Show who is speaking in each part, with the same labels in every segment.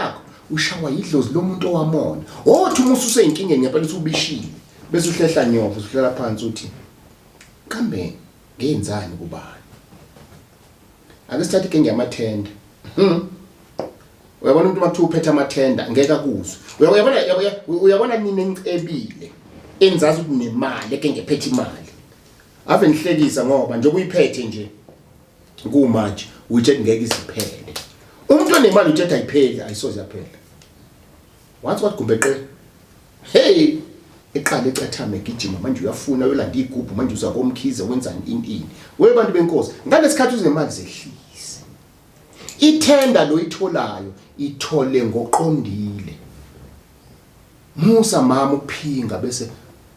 Speaker 1: yakho ushawa yidlozi lomuntu owamona othi uma ususeyinkingeni ngempela uthi ubishile bese uhlehla nyovo usuhlela phansi uthi kambe ngenzani kubani ake sithathe inkinga yamathenda hmm. uyabona umuntu makuthiwa uphethe amathenda ngeke akuzwe uyabona uyabona mina engicebile engizazi ukuthi nemali eke ngephethe imali ave nihlekisa ngoba njengoba uyiphethe nje kumanje uyithi ngeke isiphele umuntu onemali uthetha ayipheli ayisoze yaphela once what gumbe qe hey eqale ecethama egijima manje uyafuna uyolanda igubhu manje uza komkhize wenzani ini ini we bantu benkosi ngalesikhathi uzinemali zehlise ithenda loyitholayo ithole ngoqondile Musa mama ukuphinga bese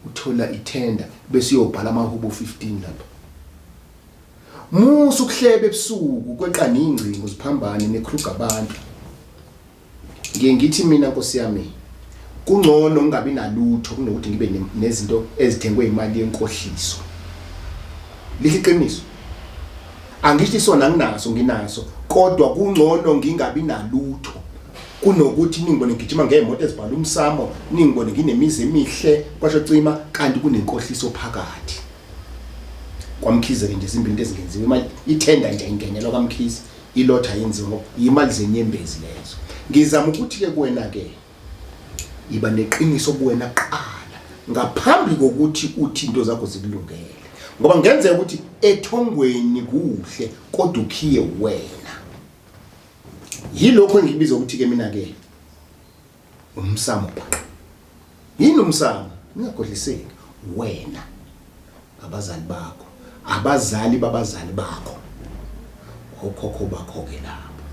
Speaker 1: uthola ithenda bese uyobhala amahubo 15 lapha. Musa ukuhlebe ebusuku kweqa ningcingo ziphambane nekruga abantu. Ngiye ngithi mina Nkosi yami kungcono ungabi nalutho kunokuthi ngibe nezinto ezithengwe imali yenkohliso. Lihle iqiniso. Angisho isona nginaso nginaso kodwa kungcono ngingabi nalutho kunokuthi ningibone ngigijima ngey'moto ezibhala umsamo ningibone nginemizi emihle kwasho cima kanti kunenkohliso phakathi kwamkhize-ke nje zimbili into ezingenziwe imali ithenda nje ingenelwa kamkhize ilotha yenziwe ngoba yimali zenyembezi lezo ngizama ukuthi-ke kuwena-ke yiba neqiniso kuwena kuqala ngaphambi kokuthi uthi into zakho zikulungele ngoba ngenzeka ukuthi ethongweni kuhle kodwa ukhiye wena yilokho engikubiza ukuthi ke mina ke umsamo bhaqa yini umsamo ningagodliseki wena abazali bakho abazali babazali bakho okhokho bakho ke lapho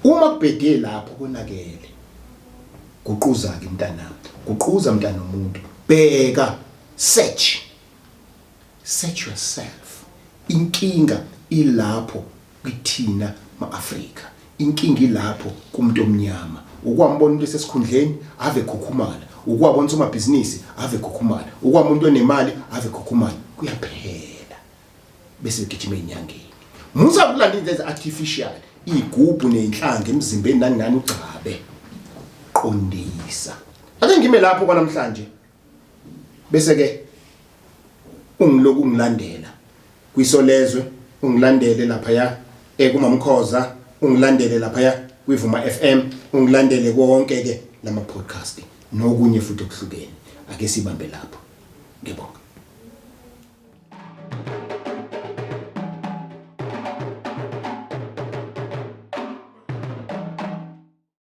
Speaker 1: uma kubhede lapho konakele guquza ke mntanami guquza mntana omuntu bheka search Search yourself. Inkinga ilapho kithina ma-Afrika. Inkinga ilapho kumuntu omnyama. Ukwambona umuntu esesikhundleni ave khukhumala. Ukwabona somabhizinisi ave khukhumala. Ukwabona umuntu onemali ave khukhumala. Kuyaphela. Bese begijima ezinyangeni. Musa kulanda into ezi artificial, igubhu nenhlanga emzimbeni nangani ugcabe. Qondisa. Ake ngime lapho kwanamhlanje. bese ke ungiloku ungilandela kwisolezwe ungilandele lapha ya ekumamkhoza ungilandele lapha ya kwivuma FM ungilandele konke ke lama podcast nokunye futhi okuhlukene ake sibambe lapho ngiyabonga